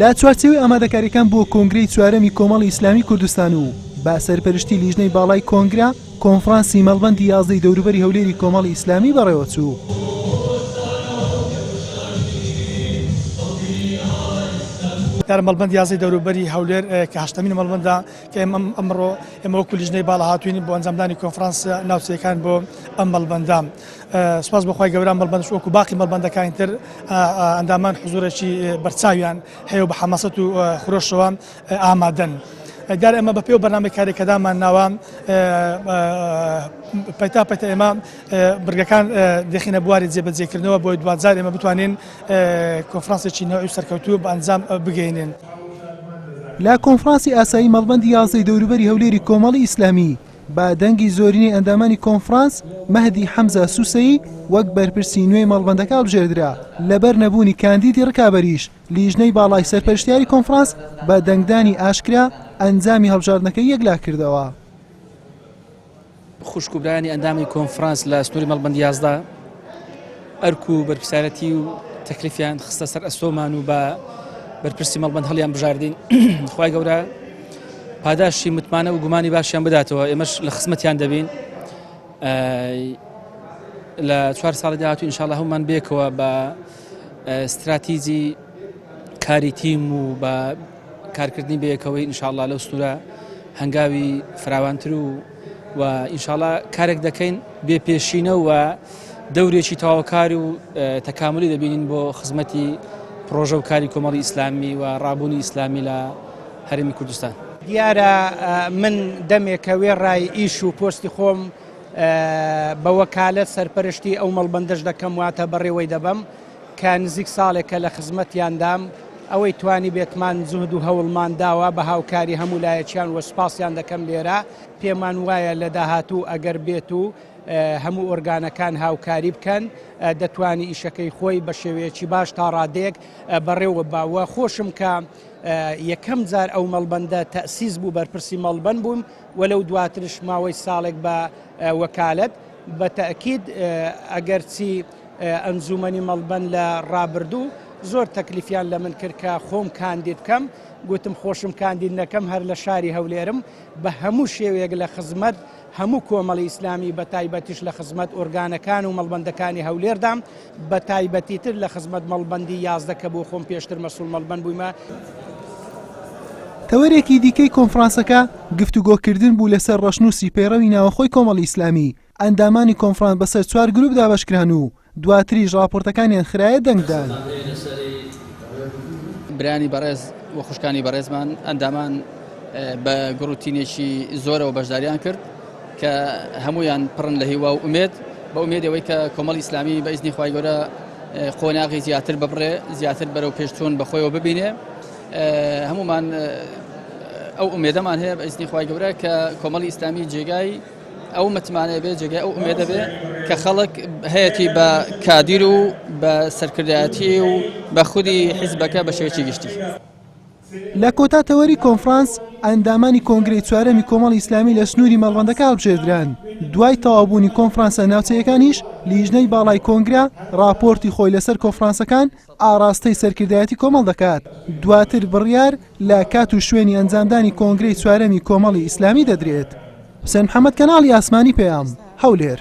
لە چوارچێوەی ئامادەکاریەکان بۆ کۆنگرەی چوارەمی کۆمەڵی ئیسلامی کوردستان و با سەرپەرشتی لیژنەی باڵای کۆنگرە کۆنفرانسی مەڵبندی یازدەی دەوروبەری هەولێری کۆمەڵی ئیسلامی بەڕێوەچوو. یارە مەڵبند یازی دەوروبەری هەولێر کە هەشتمین مەڵبنددا کە ئێمە ئەمڕۆ ئێمە وەکو لیژنەی باڵا هاتوین بۆ ئەنجامدانی کۆنفرانس ناوچەکان بۆ ئەم مەڵبندام سوپاس بۆ خوای گەورە مەڵبەندش وەکو باقی مەڵبەندەکانی تر ئەندامان حزورێکی بەرچاویان هەیە و بە حەمەسەت و خرۆشەوە ئامادەن. دیار ئەمە بە پێ و بەنامی کارێکەدامان ناوە پەتا پەتە ئێمە برگەکان دەخینە بواری جێبەجێکردنەوە بۆی دوجار ئێمە بتوانین کۆفرانسێکی نەوەی سەرکەوتوو بە ئەنجام بگەینن. لە کۆنفرانسی ئاسایی مەڵبەندی یازدەی دەوروبەری هەولێری کۆمەڵی ئیسلامی بە دەنگی زۆرینەی ئەندامانی کۆنفرانس، مەهدی حەمزە سوسەیی وەک بەرپرسی نوێی مەڵبەندەکە هەڵبژێردرا، لەبەر نەبوونی کاندیدی ڕکابەریش، لیژنەی باڵای سەرپەرشتیاری کۆنفرانس بە دەنگدانی ئاشکرا ئەنجامی هەڵبژاردنەکەی یەکلا کردەوە. خوشک و برایانی ئەندامی کۆنفرانس لە سنووری مەڵبەند یازدە، ئەرک و بەرپسارەتی و تەکلیفیان خستە سەر ئەستۆمان و بە بەرپرسی مەڵبند هەڵیان بژاردین خی گەورە پاداشی متمانە و گومانی باشیان بداتەوە ئێمەش لە خزمەتیان دەبین لە چوار ساڵی داهاتوو انشاءله هەمومان بێکەوە بە استراتیجی کاری تیم و بە کارکردنی بەیەکەوەی انشاءله لەو سنوورە هەنگاوی فراوانتر و و ئینشاڵا کارێک دەکەین بێ پێشینە و دەورێکی تەواوکار و تەکاملی دەبینین بۆ خزمەتی پرۆژە و کاری کۆمەڵی ئیسلامی و ڕابوونی ئیسلامی لە هەرمی کوردستان. دیارە من دەمێکە وێڕای ئیش و پۆستی خۆم بە وەکالەت سەرپەرشتی ئەو مەڵبەندەش دەکەم واتە بەڕێوەی دەبەم، کە نزیک ساڵێکە لە خزمەتیاندام، ئەوەی توانیبێتمان جوهد و هەوڵمان داوە بە هاوکاری هەموو لایەکیان و سوپاسیان دەکەم لێرە، پێمان وایە لە داهاتوو ئەگەر بێت و هەموو ئۆرگانەکان هاوکاری بکەن دەتوانی ئیشەکەی خۆی بە شێوەیەکی باش تا ڕادەیەک بەڕێوەببا و خۆشم کە یەکەم جار ئەو مەڵبەندە تەئسیس بوو بەرپرسی مەڵبەند بووم و لەو دواترش ماوەی ساڵێک بە وەکالەت بە تەئکید ئەگەرچی ئەنجوومەنی مەڵبەند لە ڕابردوو زۆر تەکلیفیان لە من کرد کە خۆم کاندید بکەم، گوتم خۆشم کاندید نەکەم هەر لە شاری هەولێرم بە هەموو شێوەیەک لە خزمەت هەموو کۆمەڵی ئیسلامی بە تایبەتیش لە خزمەت ئۆرگانەکان و مەڵبەندەکانی هەولێردام بە تایبەتیتر لە خزمەت مەڵبەندی یازدە کە بۆ خۆم پێشتر مەسوول مەڵبەند بوویمە. تەوەرێکی دیکەی کۆنفرانسەکە گفتوگۆکردن بوو لەسەر ڕەشنووسی پەیڕەوی ناوەخۆی کۆمەڵی ئیسلامی، ئەندامانی کۆنفرانس بەسەر چوار گروپ دابەشکران و دواتریش ڕاپۆرتەکانیان خرایە دەنگدان. برایانی بەڕێز و خوشکانی بەڕێزمان ئەندامان بە گوڕوتینێکی زۆرەوە بەشداریان کرد کە هەمویان پڕن لە هیوا و ئومێد بە ئومێدی ئەوەی کە کۆمەڵی ئیسلامی بە ئیزنی خوای گەورە قۆناغی زیاتر ببڕێ زیاتر بەرەو پێشچوون بەخۆیەوە ببینێ هەمومان ئەو ئومێدەمان هەیە بە ئیزنی خوای گەورە کە کۆمەڵی ئیسلامی جێگای ئەو متمانەیە بێ جێگای ئەو ئومێدە بێ کە خەڵک هەیەی بە کادیر و بە سەرکردایەتی و بە خودی حیزبەکە بە شێوەی گشتی. لە کۆتا تەوەری کۆنفرانس ئەندامانی کۆنگرەی چوارەمی کۆمەڵی ئیسلامی لە سنووری مەڵبەندەکە هەڵبژێردران دوای تەوابوونی کۆنفرانسە ناوچەیەکانیش لیژنەی باڵای کۆنگرە راپۆرتی خۆی لەسەر کۆفرانسەکان ئاڕاستەی سەرکردایەتی کۆمەڵ دەکات، دواتر بڕیار لە کات و شوێنی ئەنجامدانی کۆنگرەی چوارەمی کۆمەڵی ئیسلامی دەدرێت. حوسێن محەمەد، کەناڵی ئاسمانی پەیام، هەولێر.